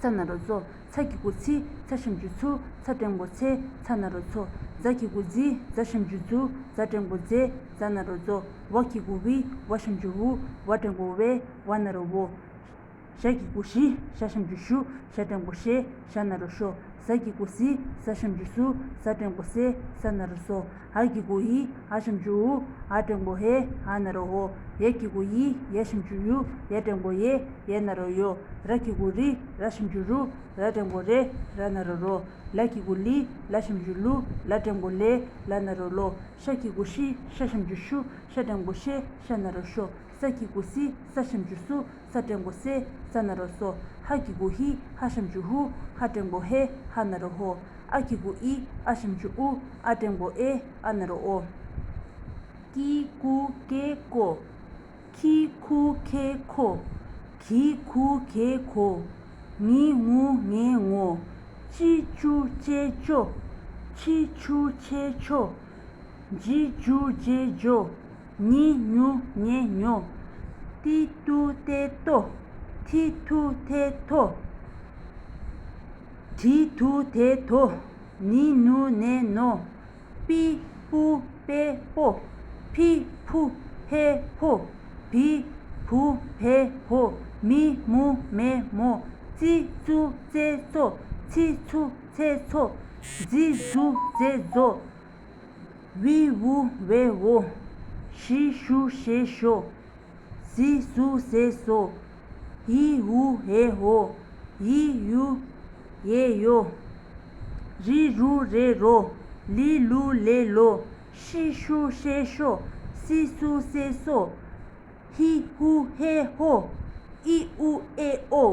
ཚ་ན་རོ་མཚོ། ཚ་གི་གུ་ཚི། ཚ་ཞིམ་འཇུ་ཚུལ། ཚ་སྐྲན་གུ་ཚི། ཚ་ན་རོ་མཚོ། རྫ་གི་གུ་རྫི། རྫ་ཞིམ་འཇུ་ཚུལ། རྫ་སྐྲན་གུ་རྫེ། རྫ་ན་རོ་རྫོ། བ་གི་གུ་ཝི། བ་ཞིམ་འཇུ་ཝུ། བ་སྐྲན་གུ་ཝེ། བ་ན་རོ་ཝོ། ཞྭ་གི་གུ་ཞི། ཞྭ་ཞིམ་འཇུ་ཤུ། ཞྭ་སྐྲན་གུ་ཤེ། ཞྭ་ན་རོ་ཤོ། ཟ་གི་གུ་ཟི། ཟ་ཞིམ་འཇུ་སུ། ཟ་སྐྲན་གུ་སེ། ཟ་ན་རོ་སོ། ཧཱ་ཀྱི་གུ་ཡི་ཧཱ་ཞིང་ཅུ་ཡུ་ཧཱ་བྲེང་པོ་ཧེ་ཧཱ་ན་རོ་ཧོ། ཡས་ཀྱི་གུ་ཡི་ཡས་ཞིང་ཅུ་ཡུ་ཡས་བྲེང་པོ་ཡེ་ཡས་ན་རོ་ཡོ། ར་ཀྱི་གུ་རི་ར་ཞིང་ཅུ་རུ་ར་བྲེང་པོ་རེ་ར་ན་རོ་རོ། ལ་ཀྱི་གུ་ལི་ལ་ཞིང་ཅུ་ལུ་ལ་བྲེང་པོ་ལེ་ལ་ན་རོ་ལོ། ཤ་ཀྱི་གུ་ཤི་ཤ་ཞིང་ཅུ་ཤུ་ཤ་བྲེང་པོ་ཤེ་ཤ་ན་རོ་ཤོ། ས་ཀྱི་གུ་སི་ས་ཞིང་ཅུ་སུ་ས་བྲན་གོ་སེ་ས་ན་རོ་སོ་ཧ་ཀི་གུ་ཧི་ཧ་ཤམ་ཇུ་ཧུ་ཧ་བྲན་གོ་ཧེ་ཧ་ན་རོ་ཧོ་ཨ་ཀི་གུ་ཨི་ཨ་ཤམ་ཇུ་ཨུ་ཨ་བྲན་གོ་ཨེ་ཨ་ན་རོ་ཨོ་ཀི་གུ་ཀེ་ཀོ་ཁི་ཁུ་ཁེ་ཁོ་གྷི་གྷུ་གྷེ་གྷོ་ངི་ངུ་ངེ་ངོ་ཅི་ཅུ་ཅེ་ཅོ་ཆི་ཆུ་ཆེ་ཆོ་ཇི་ཇུ་ཇེ་ཇོ། ཉི་ཉུ་ཉེ་ཉོ། ཏི་ཏུ་ཏེ་ཏོ། ཐི་ཐུ་ཐེ་ཐོ། དྲི་དུ་དེ་དོ། ནི་ནུ་ནེ་ནོ། པི་པུ་པེ་པོ། ཕི་ཕུ་ཕེ་ཕོ། བི་བུ་བེ་བོ། མི་མུ་མེ་མོ། ཙི་ཙུ་ཙེ་ཙོ། ཚི་ཚུ་ཚེ་ཚོ། ཛི་ཛུ་ཛེ་ཛོ། དབུས་དབུ་བའི་དབུ། ཞེས་ཞུ་ཞེས་ཞོ། ཟས་སུ་ཟས་སོ། ཧེའི་ཧུ་ཧེ་ཧོ། ཡེའི་ཡུ་ཡེ་ཡོ། རིའི་རུ་རེ་རོ། ལིའི་ལུ་ལེ་ལོ། ཤིའི་ཤུ་ཤེ་ཤོ། སིའི་སུ་སེ་སོ། ཧེའི་ཧུ་ཧེ་ཧོ། ཨིའི་ཨུ་ཨེ་ཨོ།